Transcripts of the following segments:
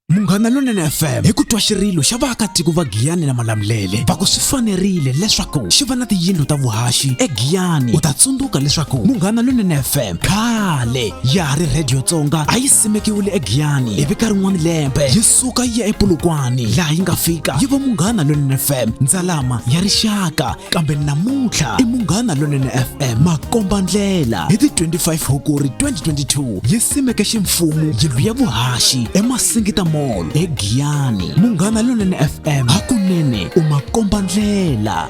munghana lonene fm hi ku twa xirilo xa vaakatiko va giyani na malamulele va ku swi fanerile leswaku xi va na tiyindlu ta vuhaxi egiyani u ta tsundzuka leswaku munghana lonene fm khale ya ha ri rhediyo tsonga a yi simekiwile egiyani ivi ka rin'wana lembe yi suka yi ya epulukwani laha yi nga fika yi va munghana lonene fm ndzalama ya rixaka kambe namuntlha i munghana lonene fm makomba ndlela hi ti 25 hukuri 2022 yi simeke ximfumo yindlu ya vuhaxi emasingita mall egiyani munghana lonene fm hakunene u makomba ndlela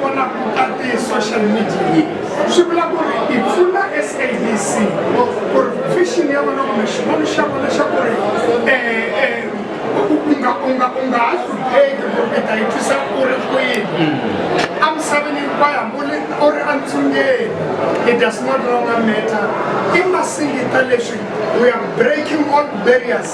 vona ku ta ti-social media yi swi vula ku ri i pfuna sabc ku ri vision ya vona kumbe xivono xa vona xa ku ri unga ha hlupheki ku ri ta yi twisa ku ri kwini a misaveni hinkwayo hambuli u ri entsungeni it does not longer matter i masingita leswi we are breaking all barriers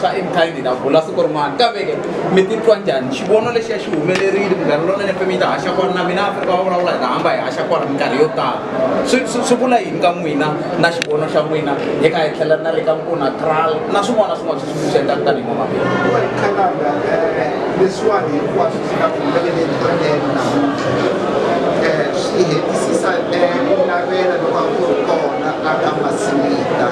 swa enkhayi ni la vula siku rin'wana kaveke mi titwa njhani xivono lexiya xi humelerile minkarhi lonene fe mi ta haxa kona na mina afrika va vulavula hi ta hamba hi haxa kona minkarhi yo tala swi vula yini ka n'wina na xivono xa n'wina hi kha hi tlhela na le ka nkuna tral na swin'wana swin'wana swi swi swi endlaka tanihi mamabindukhalanga eh, leswiwani hinkwaswo swi nga humeleleni tonene namuntlha eh, swi hetisisa eh, ku navela loko a ku ri kona a ka masinita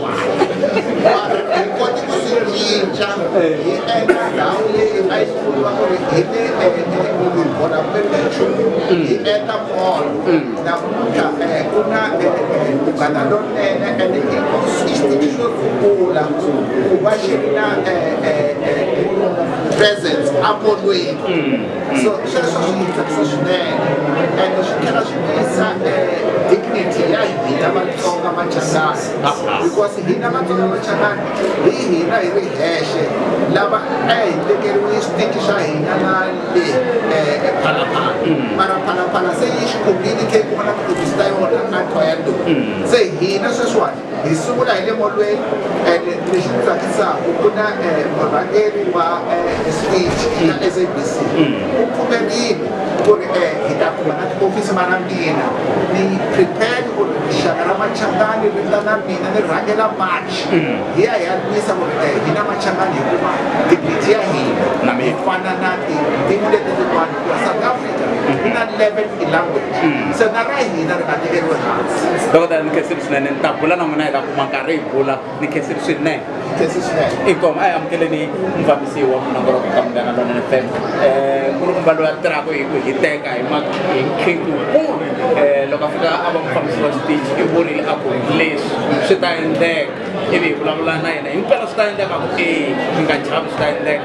hi koti ku swi cinca hi endla ndhawu leyi a yi vuriwa ku ri hi ti vona kumbe nchumu hi endla mall namuntlha ku na munghana lonene and xitiki xo sungula ku va xi ri na presence a molweni So, so, so, so, so, and she cannot miss uh, dignity ya hina vatsonga machangani because hina vatsonga machangani hi hina hi ri hexe lava a hi tekeriwe stiki xa hina na le phalaphala mara phalaphala se yi xi khobini khe ku va na ku dyisa yona a twa ya ndu se hina sweswiwani hi sungula hi le molweni and lexi ni tsakisaka ku na eh, murhangeri wa eh, speech ya mm. sabc mm. u pfumerile ku ri eh, hi ta kuma na tiofisi ma na mina ni prepare ku ri rixaka ra machangani ri ta na mina ni rhangela march mm. hi ya hi ya lwisa ku ri hi na machangani hikuva tiphiti ya hina hi fana na tin'wi leti tin'wana South Africa ku na 11 tilanguage so na ra hina ri nga tekeriwe hansi dokodela ni khesiri swinene ni ta bula na n'wina hi ta kuma nkarhi hi bula ni khesiri swinene khesi swinene inkomo a yi amukeleni mufambisi wa munongoloko ka munghana lonene fm um ku ri kumba loyi a tirhaka hi ku hiteka hi ma- hi nkhingu wukulu um loko a fika a va mufambisi wa xitichi i vurile a ku leswi swi ta endleka ivi hi vulavula na yena himpela swi ta endleka ku e mi nga chavi swi ta endleka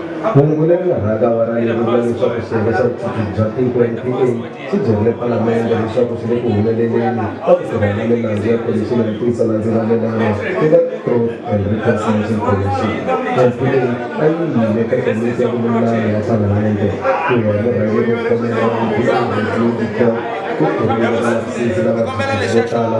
Hungu leri nga rhanga va ra leri vula leswaku xiyenge xa vuchuchisi bya tiko, NPA, xi byerile palamende leswaku xi le ku humeleleni ka ku tirha na milandzu ya Khomixini ya Ntiyiso na Ndzivalelano ku nga Truth and Reconciliation Commission. NPA a yi yile eka Komiti ya Vululami ya Palamende. Ku ya hi murhangeri wo khomela wa NPA, Rosy Ndudisson, ku khomile valavisisi lava vuchuchisi vo tala.